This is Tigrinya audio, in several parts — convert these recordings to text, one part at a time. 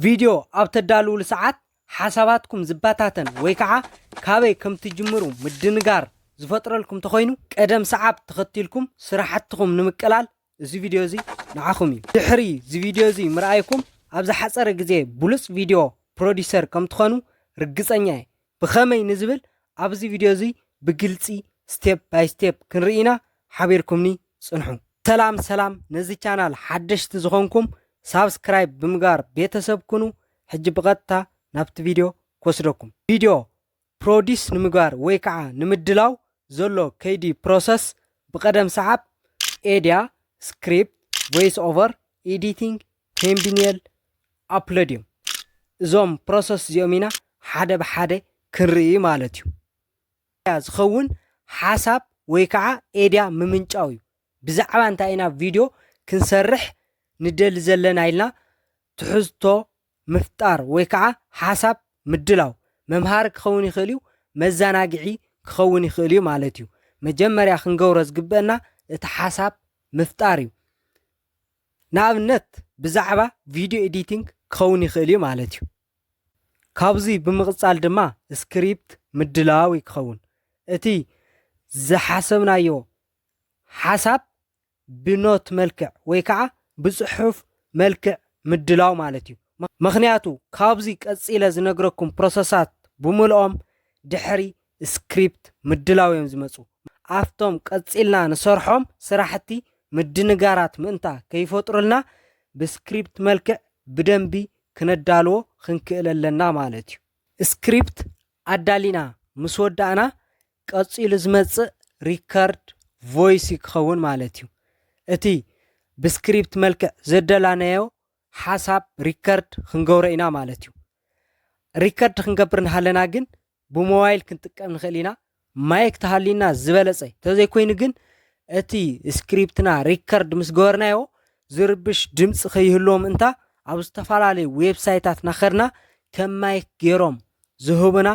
ቪድዮ ኣብ ተዳልዉሉ ሰዓት ሓሳባትኩም ዝበታተን ወይ ከዓ ካበይ ከም ትጅምሩ ምድንጋር ዝፈጥረልኩም ተኾይኑ ቀደም ሰዓብ ተኸቲልኩም ስራሕትኹም ንምቅላል እዚ ቪድዮ እዚ ንዓኹም እዩ። ድሕሪ እዚ ቪድዮ እዚ ምርኣይኩም ኣብ ዝሓፀረ ግዜ ብሉፅ ቪድዮ ፕሮዲሰር ከም ትኾኑ ርግፀኛ እየ። ብኸመይ ንዝብል ኣብዚ ቪድዮ እዚ ብግልፂ ስቴፕ ባይ ስቴፕ ክንርኢ ኢና ሓቢርኩምኒ ፅንሑ። ሰላም ሰላም ነዚ ቻናል ሓደሽቲ ዝኾንኩም ሳብስክራይብ ብምግባር ቤተሰብ ኩኑ ሕጂ ብቐጥታ ናብቲ ቪድዮ ክወስደኩም ቪድዮ ፕሮዲስ ንምግባር ወይ ከዓ ንምድላው ዘሎ ከይዲ ፕሮሰስ ብቐደም ሰዓብ ኤድያ ስክሪፕት ቮይስ ኦቨር ኤዲቲንግ ፔምቢንየል ኣፕሎድዮም። እዞም ፕሮሰስ እዚኦም ኢና ሓደ ብሓደ ክንርኢ ማለት እዩ። ያ ዝኸውን ሓሳብ ወይ ከዓ ኤድያ ምምንጫው እዩ። ብዛዕባ እንታይ ኢና ቪድዮ ክንሰርሕ ንደሊ ዘለና ኢልና ትሕዝቶ ምፍጣር ወይ ከዓ ሓሳብ ምድላው መምሃሪ ክኸውን ይኽእል እዩ፣ መዘናግዒ ክኸውን ይኽእል እዩ ማለት እዩ። መጀመርያ ክንገብሮ ዝግበአና እቲ ሓሳብ ምፍጣር እዩ። ንኣብነት ብዛዕባ ቪድዮ ኤዲቲንግ ክኸውን ይኽእል እዩ ማለት እዩ። ካብዙይ ብምቕፃል ድማ ስክሪፕት ምድላው እዩ ክኸውን። እቲ ዝሓሰብናዮ ሓሳብ ብኖት መልክዕ ወይ ከዓ ብፅሑፍ መልክዕ ምድላው ማለት እዩ ምክንያቱ ካብዚ ቀፂለ ዝነግረኩም ፕሮሰሳት ብምልኦም ድሕሪ ስክሪፕት ምድላው እዮም ዝመጹ። ኣብቶም ቀጺልና ንሰርሖም ስራሕቲ ምድንጋራት ምእንታ ከይፈጥሩልና ብስክሪፕት መልክዕ ብደንቢ ክነዳልዎ ክንክእል ኣለና ማለት እዩ። ስክሪፕት ኣዳሊና ምስ ወዳእና ቀጺሉ ዝመጽእ ሪከርድ ቮይስ እዩ ክኸውን ማለት እዩ። እቲ ብስክሪፕት መልክዕ ዘደላናዮ ሓሳብ ሪከርድ ክንገብሮ ኢና ማለት እዩ። ሪከርድ ክንገብር እንሃለና ግን ብሞባይል ክንጥቀም ንኽእል ኢና ማይክ ተሃልዩና ዝበለጸ ተዘይኮይኑ ግን እቲ ስክሪፕትና ሪከርድ ምስ ገበርናዮ ዝርብሽ ድምፂ ከይህልዎ ምእንታ ኣብ ዝተፈላለዩ ዌብሳይታት ናኸድና ከም ማይክ ገይሮም ዝህቡና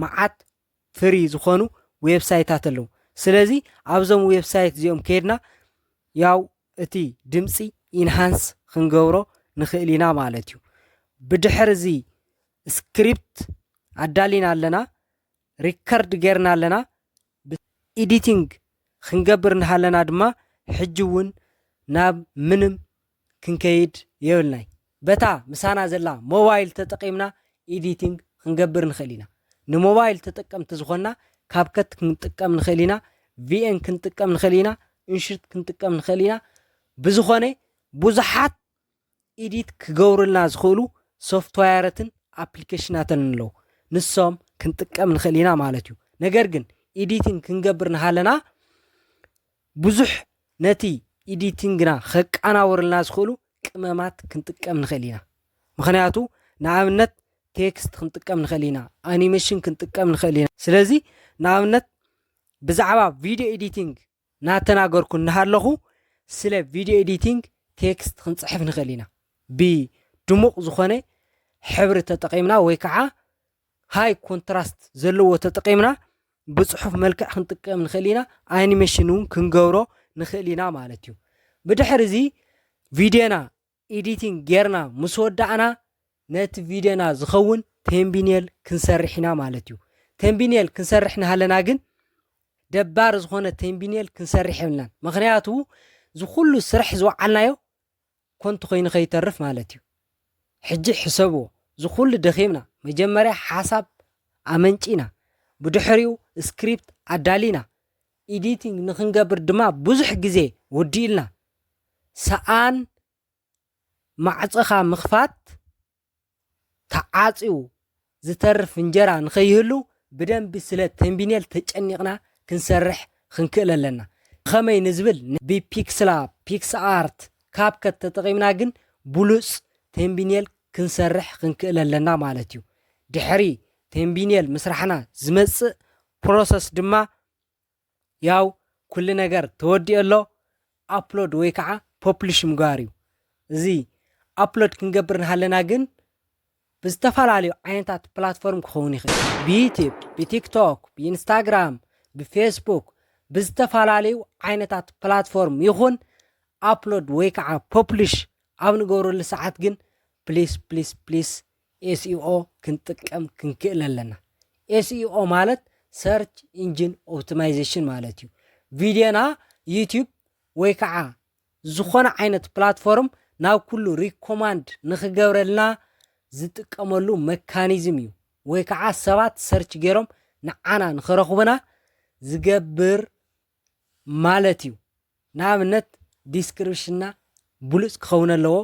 መዓት ፍሪ ዝኾኑ ዌብሳይታት ኣለዉ ስለዚ ኣብዞም ዌብሳይት እዚኦም ከይድና ያው እቲ ድምፂ ኢንሃንስ ክንገብሮ ንኽእል ኢና ማለት እዩ። ብድሕር እዚ ስክሪፕት ኣዳሊና ኣለና፣ ሪከርድ ጌርና ኣለና፣ ኢዲቲንግ ክንገብር እናሃለና ድማ ሕጂ እውን ናብ ምንም ክንከይድ የብልናይ። በታ ምሳና ዘላ ሞባይል ተጠቒምና ኤዲቲንግ ክንገብር ንኽእል ኢና። ንሞባይል ተጠቀምቲ ዝኾንና ካብከት ክንጥቀም ንኽእል ኢና፣ ቪኤን ክንጥቀም ንኽእል ኢና፣ እንሽርት ክንጥቀም ንኽእል ኢና። ብዝኾነ ብዙሓት ኤዲት ክገብሩልና ዝኽእሉ ሶፍትዋየረትን ኣፕሊኬሽናትን ኣለዉ። ንሶም ክንጥቀም ንኽእል ኢና ማለት እዩ። ነገር ግን ኤዲቲንግ ክንገብር ንሃለና ብዙሕ ነቲ ኢዲቲንግና ከቃናውርልና ዝኽእሉ ቅመማት ክንጥቀም ንኽእል ኢና። ምኽንያቱ ንኣብነት ቴክስት ክንጥቀም ንኽእል ኢና፣ ኣኒሜሽን ክንጥቀም ንኽእል ኢና። ስለዚ ንኣብነት ብዛዕባ ቪድዮ ኤዲቲንግ ናተናገርኩ እናሃለኹ ስለ ቪድዮ ኤዲቲንግ ቴክስት ክንፅሕፍ ንኽእል ኢና ብድሙቕ ዝኾነ ሕብሪ ተጠቒምና ወይ ከዓ ሃይ ኮንትራስት ዘለዎ ተጠቒምና ብፅሑፍ መልክዕ ክንጥቀም ንኽእል ኢና ኣኒሜሽን እውን ክንገብሮ ንኽእል ኢና ማለት እዩ ብድሕር እዚ ቪድዮና ኤዲቲንግ ጌርና ምስ ወዳእና ነቲ ቪድዮና ዝኸውን ቴምቢኔል ክንሰርሕ ኢና ማለት እዩ ቴምቢኔል ክንሰርሕ ናሃለና ግን ደባሪ ዝኾነ ቴምቢኔል ክንሰርሕ የብልናን ምክንያቱ ዝኩሉ ስራሕ ዝወዓልናዮ ኮንቱ ኮይኑ ከይተርፍ ማለት እዩ ሕጂ ሕሰብዎ ዝኩሉ ደኺምና መጀመርያ ሓሳብ ኣመንጪና ብድሕሪኡ ስክሪፕት ኣዳሊና ኢዲቲንግ ንክንገብር ድማ ብዙሕ ግዜ ወዲኡልና ሰኣን ማዕጾኻ ምኽፋት ተዓጽዩ ዝተርፍ እንጀራ ንኸይህሉ ብደንቢ ስለ ተንቢኔል ተጨኒቕና ክንሰርሕ ኽንክእል ኣለና። ብኸመይ ንዝብል ብፒክስላብ፣ ፒክስኣርት፣ ካብከት ተጠቒምና ግን ብሉጽ ተንቢኔል ክንሰርሕ ኽንክእል ኣለና ማለት እዩ። ድሕሪ ተንቢኔል ምስራሕና ዝመጽእ ፕሮሰስ ድማ ያው ኩሉ ነገር ተወዲኦ ኣሎ ኣፕሎድ ወይ ከዓ ፖፕሊሽ ምግባር እዩ እዚ ኣፕሎድ ክንገብር ንሃለና ግን ብዝተፈላለዩ ዓይነታት ፕላትፎርም ክኸውን ይኽእል ብዩቲብ ብቲክቶክ ብኢንስታግራም ብፌስቡክ ብዝተፈላለዩ ዓይነታት ፕላትፎርም ይኹን ኣፕሎድ ወይ ከዓ ፖፕሊሽ ኣብ ንገብረሉ ሰዓት ግን ፕሊስ ፕሊስ ፕሊስ ኤስኢኦ ክንጥቀም ክንክእል ኣለና። ኤስኢኦ ማለት ሰርች ኢንጂን ኦፕቲማይዜሽን ማለት እዩ። ቪድዮና ዩቲዩብ ወይ ከዓ ዝኾነ ዓይነት ፕላትፎርም ናብ ኩሉ ሪኮማንድ ንክገብረልና ዝጥቀመሉ መካኒዝም እዩ። ወይ ከዓ ሰባት ሰርች ገይሮም ንዓና ንክረኽቡና ዝገብር ማለት እዩ። ንኣብነት ዲስክርፕሽንና ብሉጽ ክኸውን ኣለዎ፣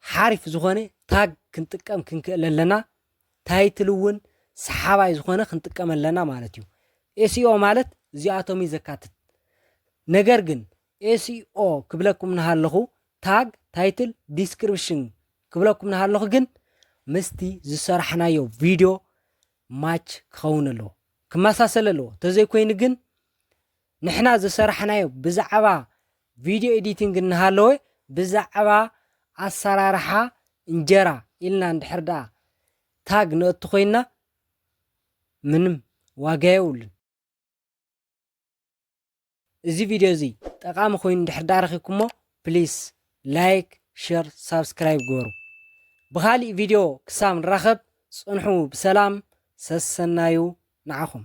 ሓሪፍ ዝኾነ ታግ ክንጥቀም ክንክእል ኣለና፣ ታይትል እውን ሰሓባይ ዝኾነ ክንጥቀም ኣለና ማለት እዩ። ኤስኢኦ ማለት እዚኣቶም እዩ ዘካትት። ነገር ግን ኤስኢኦ ክብለኩም ንሃለኹ ታግ፣ ታይትል፣ ዲስክሪፕሽን ክብለኩም ንሃለኹ ግን ምስቲ ዝሰራሕናዮ ቪድዮ ማች ክኸውን ኣለዎ ክመሳሰል ኣለዎ ተዘይኮይኑ ግን ንሕና ዝሰራሕናዮ ብዛዕባ ቪድዮ ኤዲቲንግ እናሃለወ ብዛዕባ ኣሰራርሓ እንጀራ ኢልና እንድሕር ደኣ ታግ ነእቱ ኮይንና ምንም ዋጋ የብሉን። እዚ ቪድዮ እዚ ጠቃሚ ኮይኑ እንድሕር ደኣ ረኺብኩሞ ፕሊስ ላይክ ሸር ሳብስክራይብ ግበሩ። ብኻሊእ ቪድዮ ክሳብ ንራኸብ ጽንሑ ብሰላም ሰሰናዩ ንዓኹም።